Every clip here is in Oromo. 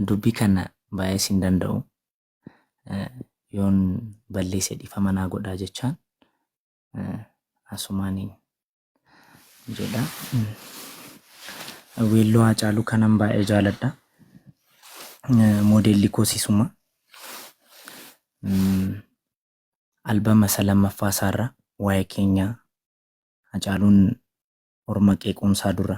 Dubbii kana baay'ee sin danda'u. Yoon balleesse dhiifama naa godhaa jechaan asumaaniin jedha. Weelloo Haacaaluu kanan baay'ee jaaladha. Moodeelli koos isuma. Albama isa lammaffaa isaarra waa'ee keenyaa Haacaaluun orma qeequunsaa dura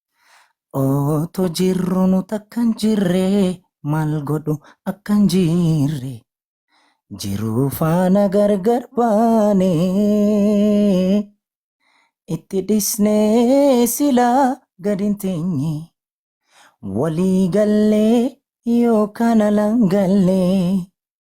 Oto jirru nu takkan jirre mal godhu akkan jirre jiruu faana gargar baane itti dhisne silaa gadin teenye walii galle yoo kana langalle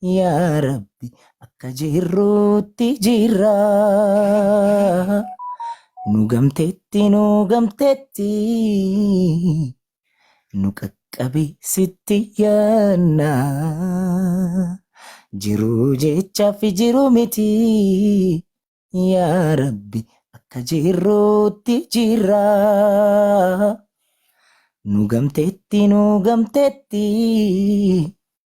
Yaa Rabbi akka jirruutti jirra. Nu gamteetti nu gamteetti nu qaqqabi sitti yaanna. Jiruu jechaaf jiru miti yaa Rabbi akka jirruutti jirra. Nu gamteetti nu gamteetti.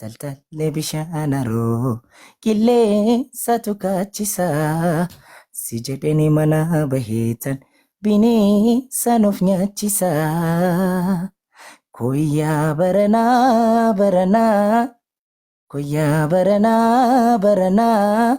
Taltallee bishaan haroo qilleensaatu kaachisa. Si jedheni manaa baheetan bineensa nuuf nyaachisa. Koyyaa baranaa baranaa koyyaa baranaa baranaa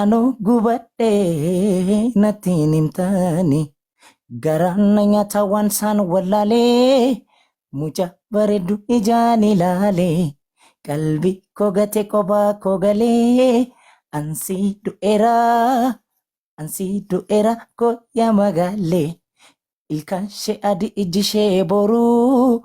Anoo gubadhee natti hin himtaani. Garaan na nyaata waan saan wallaalee. Muca bareeddu ijaan ilaalee. Qalbii koo gate kophaa koo galee. Ansii du'eera ansii du'eera koo yaa magaalee. Ilkaan ishee adii ijji ishee booruu.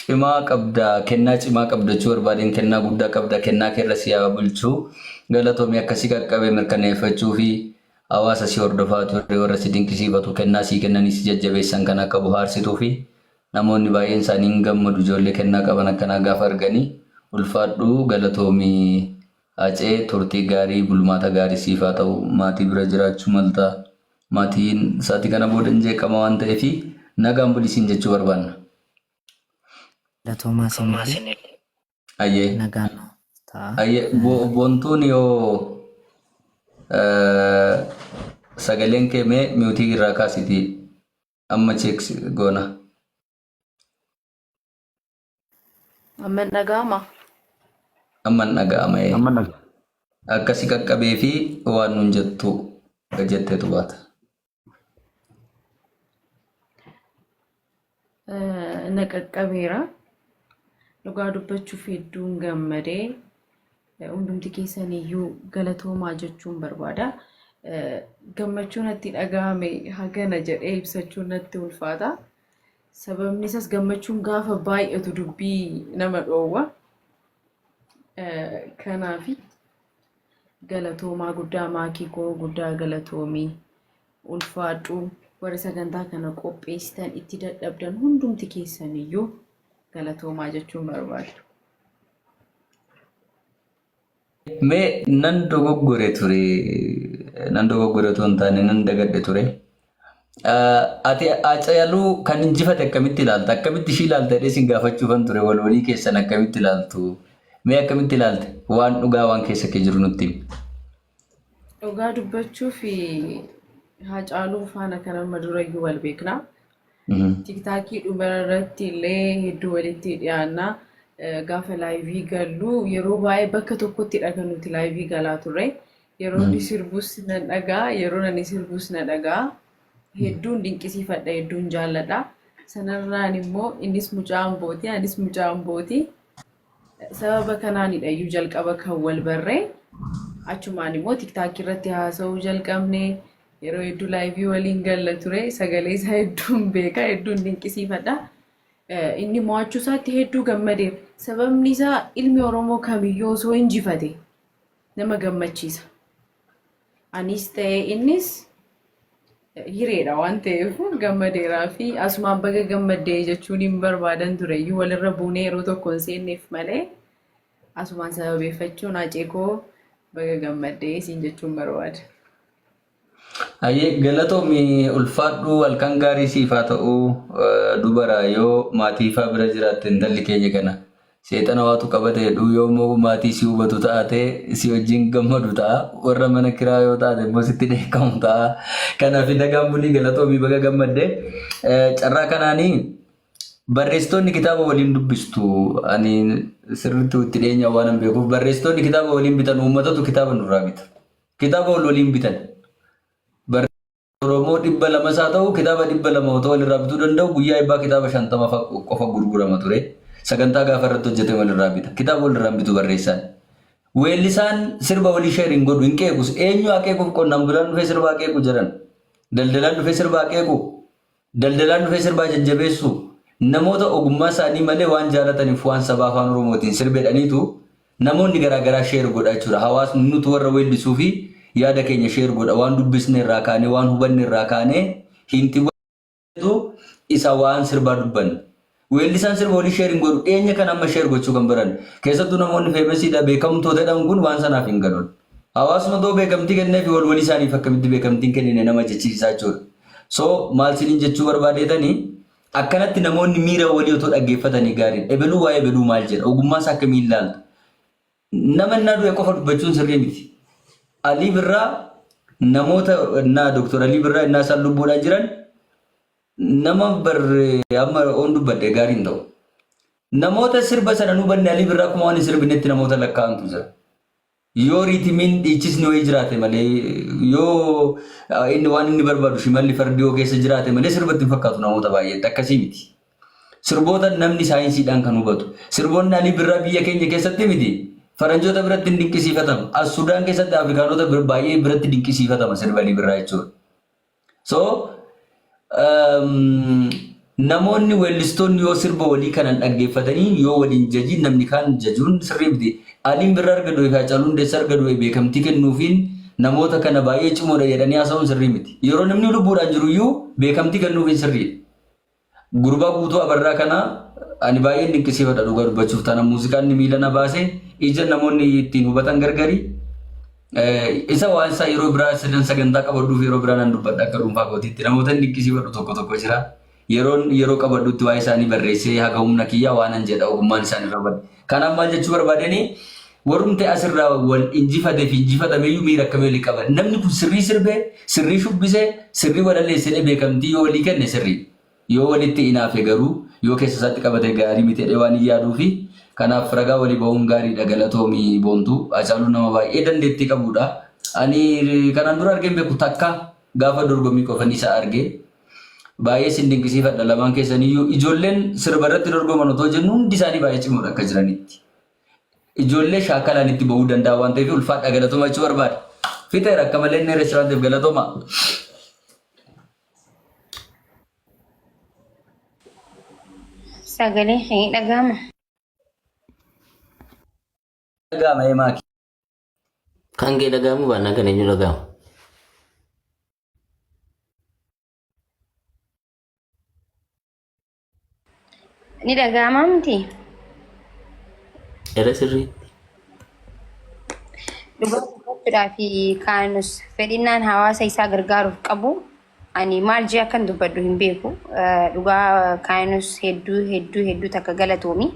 Cimaa qabda kennaa cimaa qabda jechuu barbaadeen kennaa guddaa qabda kennaa kee irra si haa bulchu galatoomi akka si qaqqabe mirkaneeffachuufi hawaasa si hordofaa ture warra si dinqisiifatu kennaa sii kennanii si jajjabeessan kan akka bohaarsituufi namoonni baay'een isaanii hin gammadu ijoollee kennaa qaban akkanaa gaafa arganii ulfaadhu galatoomi Hacee turtii gaarii bulmaata gaarii siif haa ta'u maatii bira jiraachuu malta maatiin sa'atii kana booda hin jeeqama waan ta'eefi nagaan buli siin jechuu barbaanna. Galatoomaa sinillee Ayyee. nagaan nuuf ta'a. Ayyee. Bo- Bontuun yoo eh, sagaleen kee mee miutii irraa kaasiti amma cheeks goona. Amma hin dhaga'ama. Amma hin dhaga'ama. ee. Amma dhaga. Akkasi qaqqabee fi waan nun jettu jetteetu baata. na qaqqabeera. Dhugaa dubbachuuf hedduun gammadee hundumti keessan iyyuu galatoomaa jechuun barbaada. Gammachuu natti dhaga'ame hagana jedhee ibsachuun natti ulfaata. Sababni isaas gammachuun gaafa baay'atu dubbii nama dhoowwa. Kanaafi Galatoomaa guddaa maakii koo guddaa galatoomii ulfaadhuu. Warri sagantaa kana qopheessitan itti dadhabdan hundumti keessan iyyuu galatoomaa jechuun barbaada. Mee nan dogoggore ture nan dogoggore otoo hin taane nan dagadhe ture Ati Acayaluu kan injifate akkamitti ilaalta? Akkamitti ishii ilaalta jedhee sin gaafachuufan ture wal walii keessan akkamitti ilaaltu? Mee akkamitti ilaalte? Waan dhugaa waan keessa kee jiru nutti himi. Dhugaa dubbachuu fi Haacaaluu faana kan amma durayyuu wal beekna. Tiktaakii dhuma irratti illee hedduu walitti dhiyaanna. Gaafa laayivii gallu yeroo baay'ee bakka tokkottidha kan nuti laayivii galaa turre. Yeroo inni sirbus nan dhaga'a, yeroo ani sirbus na dhaga'a. Hedduun dinqisiifadha, hedduun jaalladha. Sanarraan immoo innis mucaa Ambooti, anis mucaa Ambooti. Sababa kanaanidha iyyuu jalqaba kan wal barree. Achumaan immoo tiktaakii irratti haasa'uu jalqabne. Yeroo hedduu laayivii waliin galla ture. Sagalee isaa hedduun beeka, hedduun dinqisiifadha. Eh, Inni mo'achuu isaatti hedduu gammadeera. Sababni isaa ilmi Oromoo kamiyyuu osoo injifate nama gammachiisa. Anis ta'ee innis hireedha waan ta'eef gammadeeraa fi asumaan baga gammaddee jechuun hin barbaadan ture iyyuu walirra buunee yeroo tokko hin seenneef malee asumaan sababeeffachuun hacee koo baga gammaddee siin jechuun barbaada. Hayyee galatoomi ulfaadhu halkan gaarii siif haa ta'u dubara yoo maatiifaa bira jiraatte intalli keenya kana seexana waatu qabate jedhu yoo immoo maatii si hubatu taate si wajjin gammadu ta'a warra mana kiraa yoo taate immoo sitti dheekkamu ta'a kanaaf nagaan bulii galatoomi baga gammadde carraa kanaanii barreessitoonni kitaaba waliin dubbistu ani sirriitti itti dhiyeenyaan waan hin beekuuf barreessitoonni kitaaba waliin bitan uummatatu kitaaba nurraa bita. Kitaaba wal waliin bitan. Barreessitoota Oromoo 200 isaa ta'u kitaaba 200 otoo walirraa bituu danda'u guyyaa eebbaa kitaaba 50 fa qofa gurgurama ture. Sagantaa gaafa irratti hojjete walirraa bita. Kitaaba walirraa hin bitu barreessaan. Weellisaan sirba walii sheer hin godhu hin qeequs. Eenyu haa qeequuf qonnaan bulaan dhufee sirba haa qeequ jedhan. Daldalaan dhufee sirba haa qeequ. Daldalaan dhufee sirbaa jajjabeessuu? Namoota ogummaa isaanii malee waan jaalataniif waan sabaa afaan oromootiin sirbedhaniitu namoonni garaa garaa share godha jechuudha. Hawaasni nutu warra weellisuu fi yaada keenya share godha waan dubbisne irraa kaanee waan hubanne irraa kaanee hiintiwwan jedhu isa waan sirbaa dubbanne. Weellisaan sirba walii share hin godhu. Dhiyeenya kana amma share gochuu kan baran. Keessattuu namoonni famous dha, beekamtoo dha dhan kun waan sanaaf hin galun. Hawaasni otoo beekamtii kenneefi wal walii isaaniif akkamitti beekamtii hin kennine nama jechisiisaa jechuudha. So maal isiniin jechuu barbaadeetani akkanatti namoonni miira walii otoo dhaggeeffatanii gaariidha. Ebeluu waa'ee ebeluu maal jedha? Ogummaa isaa akkamiin ilaalta? Nama innaa du'e qofa dubbachuun sirrii miti. Alii Birraa namoota innaa Doktor Alii Birraa innaa isaan lubbuudhaan jiran Nama bar amma oon dubbadhe gaarii hin ta'u. Namoota sirba sana nu banne Alii Birraa akkuma waan hin sirbinetti namoota lakkaa'antu jira. Yoo riitimiin dhiichisni wayii jiraate malee yoo ah, inni waan inni barbaadu shimalli fardi yoo keessa jiraate malee sirba itti hin fakkaatu namoota baay'eetti akkasii miti. Sirboota namni saayinsiidhaan kan hubatu. Sirboonni Alii Birraa biyya keenya keessatti miti. Faranjoota biratti hin dinqisiifatama. As Sudaan keessatti Afrikaanota bir- baay'ee biratti dinqisiifatama sirbi Alii Birraa jechuudha. So namoonni weellistoonni yoo sirba walii kanan dhaggeeffatanii yoo waliin jajiin namni kaan jajuun sirrii miti. Aliin birra arga du'e fi Hacaaluu Hundeessa arga du'e beekamtii kennuufiin namoota kana baay'ee cimoodha jedhanii haasa'uun sirrii miti. Yeroo namni lubbuudhaan jiruyyuu beekamtii kennuufiin sirriidha. Gurbaa Guutuu Abarraa kana ani baay'een dinqisiifadha dhugaa dubbachuuf taana muuziqaan inni miila na baase ija namoonni ittiin hubatan gargari. Isa waan isaa yeroo biraa sirnan sagantaa qabadhuuf yeroo biraa nan dubbadha akka dhuunfaa kootiitti namoota dinqisiifadhu tokko tokko jira. Yeroon yeroo qabadhutti waa'ee isaanii barreessee haga humna kiyyaa waanan jedha ogummaan isaan irra bade. Kanaaf maal jechuu barbaadani warrumti asirraa wal injifate fi injifatameyyuu miira akkamii walii qaban. Namni kun sirrii sirbe, sirrii shubbise, sirrii walalleessedhee beekamtii yoo walii kenne sirrii. Yoo walitti inaafe garuu yoo keessa isaatti qabate gaarii miti jedhee waanin yaaduufi. Kanaaf ragaa walii bahuun gaariidha galatoomi Boontuu. Hacaaluun nama baay'ee dandeettii qabuudha. Ani kanaan dura argeen beeku takka gaafa dorgommii qofan isa arge. Baay'ee sin dinqisiifadha lamaan keessaniyyuu ijoolleen sirba irratti dorgoman otoo jennu hundi isaanii baay'ee cimoodha akka jiranitti. Ijoollee shaakalaan itti bahuu danda'a waan ta'eef ulfaadha galatoomaa jechuu barbaada. Fixeera akka malee inni reesturaantiif galatoomaa. Sagalee kee ni dhaga'ama. Dhaga'ama emaa kee. Kan kee dhaga'amuu baannaan kan eenyu dhaga'ama? Ni dhaga'ama miti. Era sirrii. Dhugaa dubbachuudhaa fi kaanus fedhinnaan hawaasa isaa gargaaruuf qabu ani maal jee akkan dubbadhu hin beeku. Eh, Dhugaa kaanus hedduu hedduu hedduu takka galatoomi.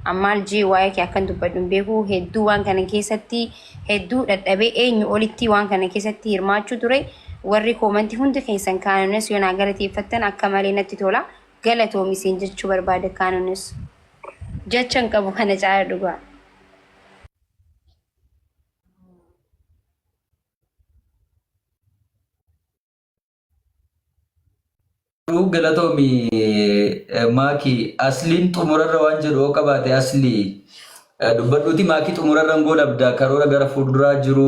An maal jee waa'ee kee akkan dubbadhu hin beeku. Hedduu waan kana keessatti hedduu dhadhabee eenyu olittii waan kana keessatti hirmaachuu ture warri koomanti hundi keessan kaanones yoo naa galateeffattan akka malee natti tola galatoomi isin jechuu barbaada kaanones jecha hin qabu kana caala dhugaa. Garuu galatoomi maaki asliin xumurarra waan jedhu yoo qabaate aslii dubbadhuuti maaki xumurarra hin goolabda karoora gara fuulduraa jiru.